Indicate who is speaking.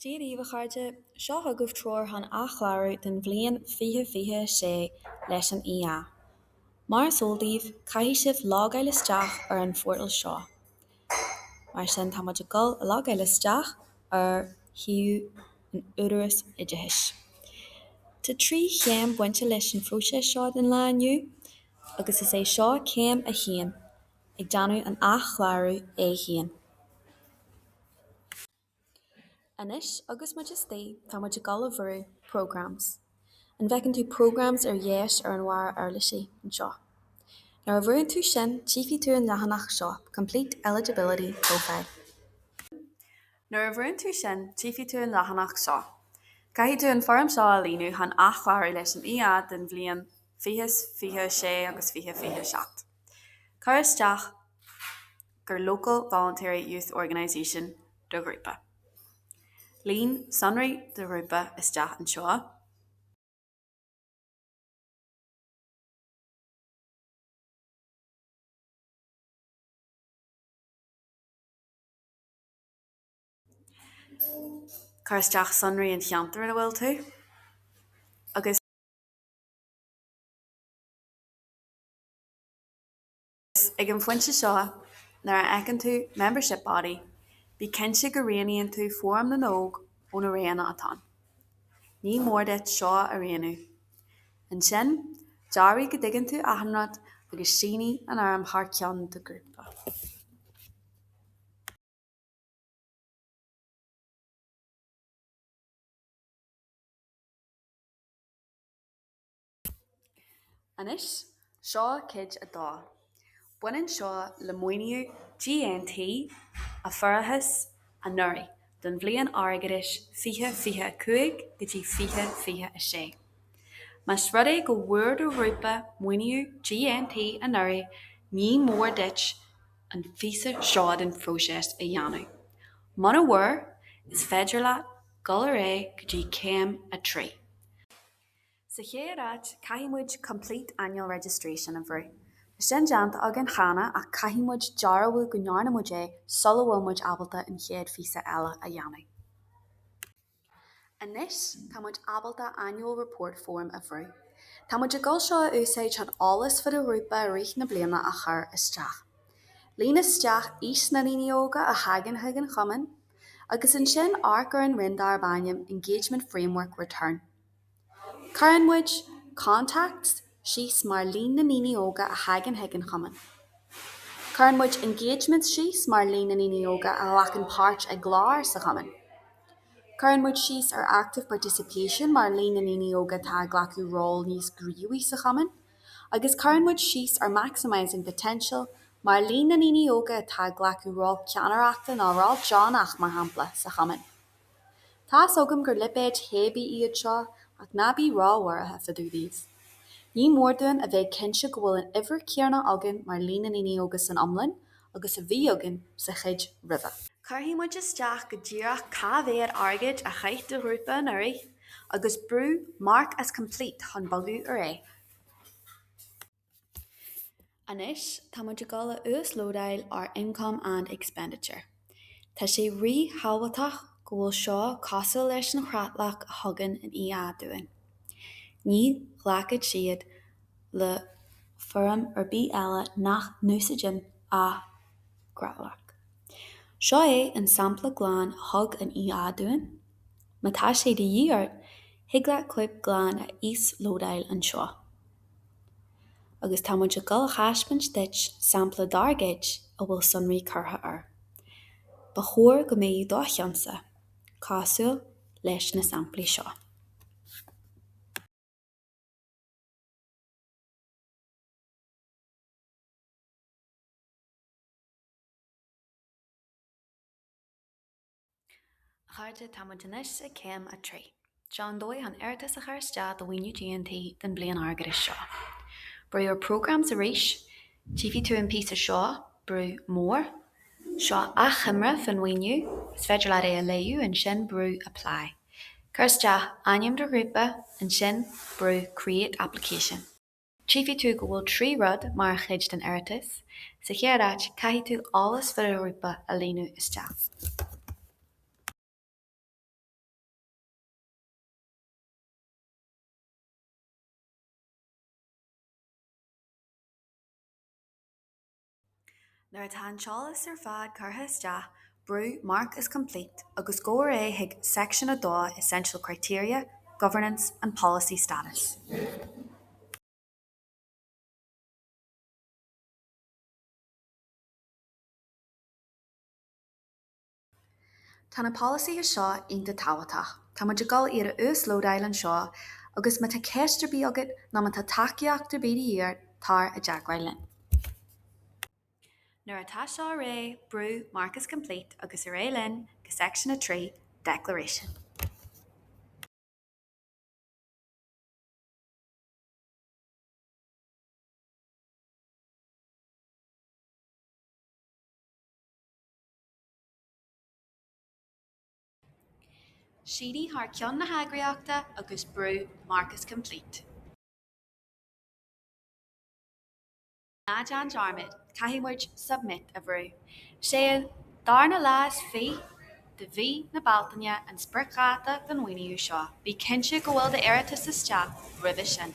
Speaker 1: Dia daoibh a chairde, seo chugaibh treoir chun athchlárú don bhliain 2026 leis an EA. Mar is eol daoibh, caithfidh sibh logáil isteach ar an phortal seo. Mar sin, tá muid ag dul a logáil isteach ar shuíomh an Údaráis Oideachais. Tá trí chéim bainte leis an phróiseas seo den lá inniu agus is é seo céim a haon. ag déanamh an athchlárú é féin. Anois agus muid istigh tá muid ag dul a bhrú programs. An bhfeiceann tú programs ar dheis ar an bharra uirlisí anseo? Nuair a bhrúnn tú sin tífidh tú an leathanach seo, Complete Eligibility Profile. Nuair a bhrúnn tú sin tífidh tú an leathanach seo. Caithfidh tú an fhoirm seo a líonadh chun athchlárú leis an EA den bhliain 2026 agus 2027. Cuir isteach gur Local Voluntary Youth Organisation do ghrúpa. Líon sonraí do ghrúpa isteach anseo. Cuir isteach sonraí an cheantair ina bhfuil tú agus. Is ag an phointe seo, nuair a fheiceann tú membership body, bí cinnte go roghnaíonn tú Fóram na nÓg ó na roghanna atá ann. Ní mór duit seo a roghnú. Ansin, dearbhaigh go dtuigeann tú achan rud agus sínigh an fhoirm thar ceann do ghrúpa. Anois, seo cuid a dó. Baineann seo le maoiniú GNT a fuarathas anuraidh don bhliain airgeadais 2025 go dtí 2026. Más rud é go bhfuair do ghrúpa maoiniú GNT anuraidh, ní mór duit an phíosa seo den phróiseas a dhéanamh. Muna bhfuair, is féidir leat dul ar aghaidh go dtí céim a trí. Sa chéad áit, caithfidh muid Complete Annual Registration a bhrú. Tá sin déanta againn cheana ach caithfidh muid dearbhú go ndearna muid é sula bhfuil muid ábalta an chéad phíosa eile a dhéanamh. Anois, tá muid ábalta Annual Report Form a bhrú. Tá muid ag dul seo a úsáid chun eolas fán ghrúpa i rith na bliana a chur isteach. Líon isteach aois na ndaoine óga a thagann chuig an chumann agus ansin amharc ar an roinn darb ainm Engagement Framework Return. Cuireann muid Contacts síos mar líon na ndaoine óga a thagann chuig an chumann. Cuireann muid Engagements síos mar líon na ndaoine óga a ghlacann páirt i gcláir sa chumann. Cuireann muid síos ar Active Participation mar líon na ndaoine óga atá ag glacadh ról níos gníomhaí sa chumann. Agus cuireann muid síos ar Maximising Potential mar líon na ndaoine óga atá ag glacadh ról ceannaireachta nó ról deonach, mar shampla, sa chumann. Tá's agam gur lipéid théibí iad seo, ach ná bí róbhuartha fá dtaobh daofa. Ní mór dúinn a bheith cinnte go bhfuil an uimhir chéanna againn mar líon na ndaoine óga san iomlán agus a bhí againn sa chuid roimhe. Cuirfidh muid isteach go díreach cá mhéad airgid a chaith do ghrúpa anuraidh agus brú mark as complete chun bogadh ar aghaidh. Anois tá muid ag dul a uaslódáil ár Income and Expenditure. Tá sé rí-thábhachtach go bhfuil seo cosúil leis an chreatlach a thugann an EA dúinn. Ní ghlacfaidh siad le foirm ar bith eile nach n-úsáideann an chreatlach. Seo é an sampla glan a thug an EA dúinn. Má tá sé de dhíth ort, thig leat cóip glan a íoslódáil anseo. agus tá muid ag dul a thaispeáint duit sampla dár gcuid a bhfuil sonraí curtha air. Ba chóir go mbeadh do cheannsa cosúil leis na samplaí seo. A chairde, tá muid anois ag céim a trí. Seo an dóigh chun iarratas a chur isteach do mhaoiniú GNT don bliain airgeadais seo. Brú your programmes arís, tchífidh tú an píosa seo, brú more. Seo achoimre faoin mhaoiniú, is féidir leat é a léamh, ansin brú apply. Cuir isteach ainm do ghrúpa, ansin brú create application. Tchífidh tú go bhfuil trí rud mar chuid den iarratas, sa chéad áit caithfidh tú eolas faoi do ghrúpa a líonadh isteach. Nuair atá an t-eolas ar fad curtha isteach, brú mark as complete agus gabh ar aghaidh chuig Section a dó, Essential Criteria, Governance and Policy Status. Tá na polasaithe seo iontach tábhachtach. Tá muid ag dul iad a uaslódáil anseo agus má tá ceist ar bith agat nó má tá tacaíocht ar bith de dhíth ort, tar i dteagmháil linn. Nuair atá seo réidh, brú Mark is complete agus ar aghaidh linn go Section 3, Declaration. Sínigh thar ceann na heagraíochta agus brú mark is complete. Ná déan dearmad, caithfidh muid submit a bhrú. Sé an darna lá is fiche de mhí na Bealtaine an spriocdháta don mhaoiniú seo. Bí cinnte go bhfuil d'iarratas isteach roimhe sin.